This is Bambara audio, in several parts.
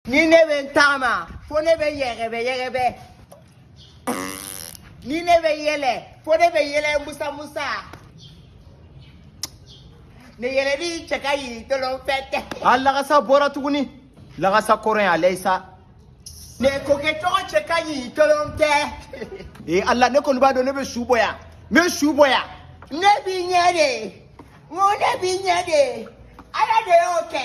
ni ne bɛ n taama fo ne bɛ yɛgɛbɛ yɛgɛbɛ ni ne bɛ yɛlɛ fo ne bɛ yɛlɛ musamusa ne yɛlɛli cɛ ka yiri tolon fɛ tɛ a lagasa bɔra tuguni lagasa kɔrɔ in a lɛyisa ne kɔkɛ cogo cɛ ka yiri tolon tɛ ee ala ne kɔni b'a dɔn ne bɛ su bɔ yan n bɛ su bɔ yan ne b'i ɲɛ de n ko ne b'i ɲɛ de ala de y'o kɛ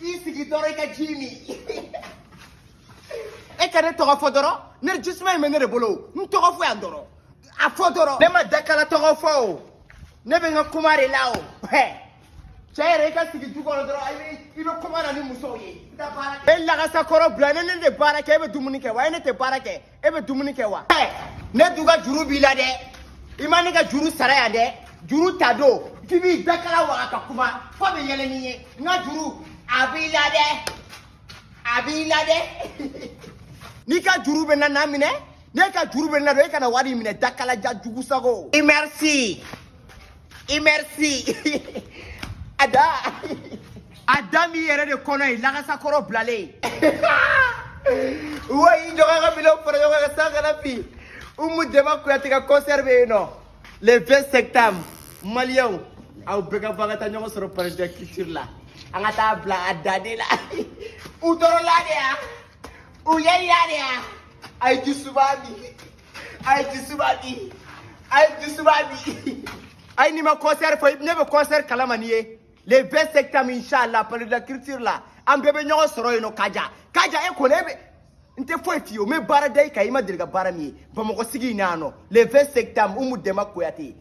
i sigi dɔrɔn i ka ji min e ka ne tɔgɔ fɔ dɔrɔn ne jisuma in bɛ ne de bolo n tɔgɔ fɔ yan dɔrɔn a fɔ dɔrɔn ne ma dakala tɔgɔ fɔ o ne bɛ n ka kuma de la o cɛ yɛrɛ i ka sigi du kɔnɔ dɔrɔn i bɛ kuma na ni musow ye e lagasakɔrɔ bilalen ne tɛ baara kɛ e bɛ dumuni kɛ wa e ne tɛ baara kɛ e bɛ dumuni kɛ wa ne dun ka juru b'i la dɛ i ma ne ka juru sara yan dɛ juru ta don k'i b'i dakala waga ka kuma fo bɛ yɛlɛ n'i ye n ka juru a b'i la dɛ a b'i la dɛ n'i ka juru bɛ n na n'a minɛ n'e ka juru bɛ n na don e ka na wari in minɛ dakalajan jugu sago i merci i merci a da a da min yɛrɛ de kɔnɔ ye lagasakɔrɔ bilalen wa i jɔgɔn ka minɛnw fara ɲɔgɔn kan san kana bin umu dɛnba kuyate ka concert bɛ yen nɔ le 20 septembre maliyɛnw aw bɛɛ ka bɔ an ka taa ɲɔgɔn sɔrɔ palais de la culture la an ka taa bila a danbe la u tɔɔrɔla de ya u yɛlɛya de ya a ye ji suma min ay ji suma min ay ji suma min ay ni ma concert fo ne bɛ concert kalama ni ye le 20 septembre inchallah palais de la culture la an bɛɛ bɛ ɲɔgɔn sɔrɔ yen nɔ kaja kaja e kɔni e bɛ n tɛ foyi f'i ye o n bɛ baara da i kan i ma deli ka baara min ye bamakɔ sigi in na yan nɔ le 20 septembre umu dɛnba kuyate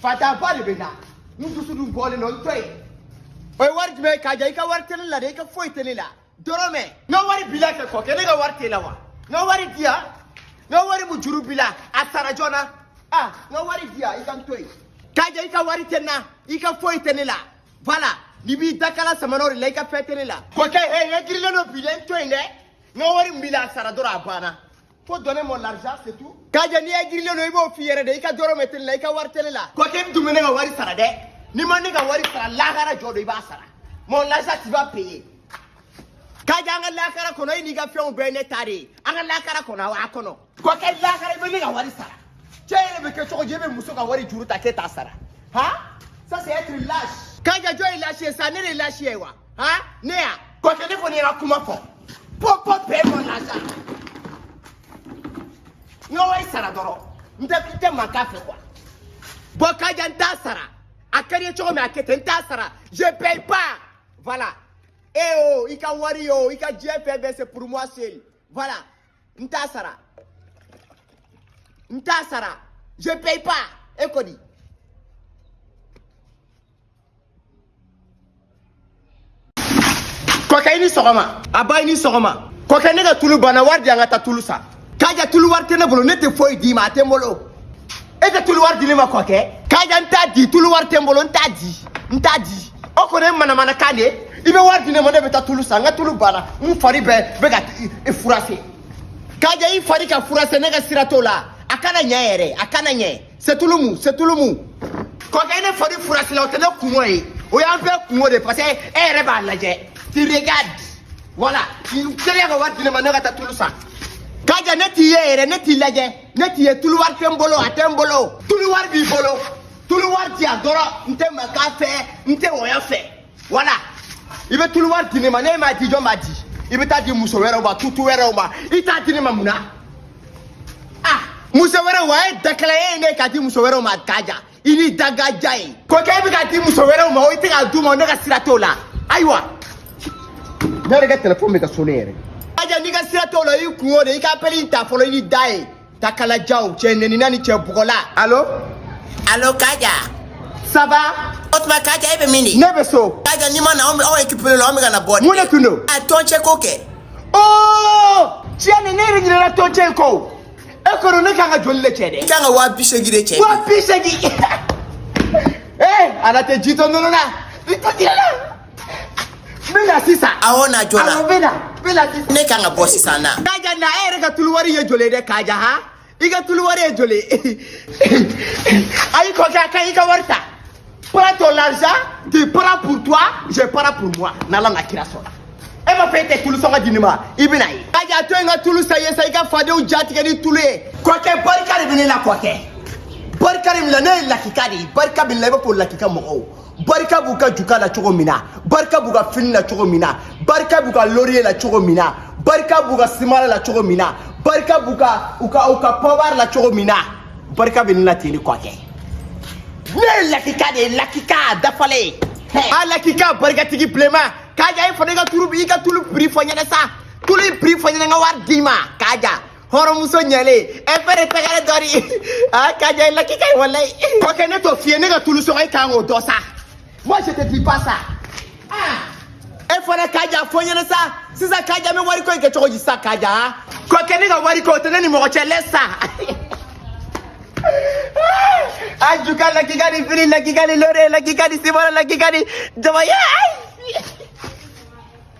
fataba de bɛ n na n dusu dun bɔlen don n to yen o ye wari jumɛn ye kaja i ka wari tɛ ne la dɛ i ka foyi tɛ ne la dɔrɔmɛ n ka wari bila kɛ kɔkɛ ne ka wari t'e la wa n ka wari di yan n ka wari mu juru bila a sara joona ah n ka wari di yan i ka n to yen kaja i ka wari tɛ n na i ka foyi tɛ ne la voilà n'i b'i dakala samanaw de la i ka fɛn tɛ ne la kɔkɛ he n ka jirilen don bi dɛ n to yen dɛ n ka wari min b'i la a sara dɔrɔn a banna Faut donner mon argent, c'est tout. Kaja n'i ye jirilen don i b'o f'i yɛrɛ de i ka dɔrɔmɛ tɛ ne la i ka wari tɛ ne la. Kɔkɛ i dun bɛ ne ka wari sara dɛ. N'i ma ne ka wari sara lahara jɔ don i b'a sara. Mon argent tu vas payer. Kaja an ka lahara kɔnɔ e n'i ka fɛnw bɛɛ ye ne ta de ye. An ka lahara kɔnɔ awa a kɔnɔ. Kɔkɛ lahara i bɛ ne ka wari sara. Cɛ yɛrɛ bɛ kɛ cogo di e bɛ muso ka wari juru ta k'e t'a sara. Ha? Ça c'est être lâche. Kaja jɔn ye lâche ye sa ne de ye lâche ye wa. ha ne ya kɔkɛ ne kɔni yɛrɛ kuma fɔ pɔpɔ bɛɛ ma lasa n ka wari sara dɔrɔn n tɛ n tɛ mankan fɛ koyi bon kaja n t'a sara a ka di i ye cogo min a kɛ ten n t'a sara je paye pas voilà e o i ka wari o i ka diɲɛ fɛn bɛɛ c'est pour moi seul voilà n t'a sara n t'a sara je paye pas e kɔni kɔkɛ i ni sɔgɔma nba i ni sɔgɔma kɔkɛ ne ka tulu banna wari di yan n ka taa tulu san kaja tulu wari tɛ ne bolo ne tɛ foyi d'i ma a tɛ n bolo e tɛ tulu wari di ne ma kɔkɛ kaja n t'a di tulu wari tɛ n bolo n t'a di n t'a di o kɔni ye manamanakan de ye i bɛ wari di ne ma ne bɛ taa tulu san n ka tulu banna n fari bɛɛ bɛ ka furase kaja i fari ka furase ne ka sira t'o la a kana ɲɛ yɛrɛ a kana ɲɛ setulumu setulumu kɔkɛ ne fari furasila o tɛ ne kunko ye o y'an fɛ kunko de parce que e yɛrɛ b'a lajɛ tu regardes voilà teliya ka wari di ne ma ne ka taa tulu san kaja ne t'i ye yɛrɛ ne t'i lajɛ ne t'i ye tulu wari tɛ n bolo a tɛ n bolo tulu wari b'i bolo tulu wari di yan dɔrɔn n tɛ mankan fɛ n tɛ wɔyɔ fɛ wala i bɛ tulu wari di ne ma n'e m'a di jɔn b'a di i bɛ taa di muso wɛrɛw ma tutu wɛrɛw ma i t'a di ne ma mun na ah muso wɛrɛw ma e dakala e ye ne ye k'a di muso wɛrɛw ma kaja i ni dagaja ye kɔkɛ e bɛ k'a di muso wɛrɛw ma o i tɛ k'a d'u ma ne ka sira t'o la ayiwa ne yɛrɛ ka telefɔni bɛ ka sonner yɛrɛ kaja ne ka sira t'o la i kunko de ye i ka apɛli in ta fɔlɔ i ni da ye dakalajaw cɛ nɛnina ni cɛ bugɔla alo alo kaja ça va o tuma kaja e bɛ min ne bɛ so kaja n'i ma na anw bɛ aw équipe la anw bɛ ka na bɔ mun de tun don a tɔn cɛ ko kɛ oo tiɲɛ na ne yɛrɛ ɲinɛna tɔn cɛ in kɔ o e kɔni ne kan ka joli de cɛ dɛ i kan ka waa bi seegin de cɛ waa bi seegin ee ala tɛ ji tɔ nɔnɔ na i tɔ tigɛ la bɛna sisan awɔ na joona awɔ bɛna bɛna sisan ne kan ka bɔ sisan na kaja na e yɛrɛ ka tulu wari ye joli ye dɛ kaja ha i ka tulu wari ye joli ye ayi kɔkɛ a ka i ka wari ta prends ton l'argent tu prends pour toi je prends pour moi n'ala n'a kira sɔnna e ma fɛ e tɛ tulu sɔngɔ di ne ma i bɛn'a ye kaja to n ka tulu san i ye sa i ka fadenw jatigɛ ni tulu ye kɔkɛ barika de bɛ ne la kɔkɛ barika de bɛ ne la ne ye lakika de ye barika bɛ ne la i b'a fɔ lakika mɔgɔw barika b'u ka juka la cogo min na barika b'u ka fini la cogo min na barika b'u ka loriye la cogo min na barika b'u ka simala la cogo min na barika b'u ka u ka u ka pɔbari la cogo min na barika bɛ ne la ten ni kɔkɛ ne ye lakika de ye lakika a dafalen a lakika barikatigi bilenma kaja i fana i ka tulu i ka tulu prix fɔ n ɲɛ na sa tulu in prix fɔ n ɲɛ na n ka wari d'i ma kaja hɔrɔnmuso ɲalen ɛ fɛnɛ tɛgɛrɛ dɔ de a ka ja i la k'i ka walayi o kɛ ne t'o fiyɛ ne ka tulu sɔgɔ i kan k'o dɔ sa moi je te dis pas ça e fana Kaja fɔ n ɲɛna sa sisan Kaja n bɛ wari ko in kɛ cogo di sa Kaja ko kɛ ne ka wari ko o tɛ ne ni mɔgɔ cɛ lɛ sa a ju ka la k'i ka ni fini la k'i ka ni lore la k'i ka ni simɔrɔ la k'i ka ni jama ye ayi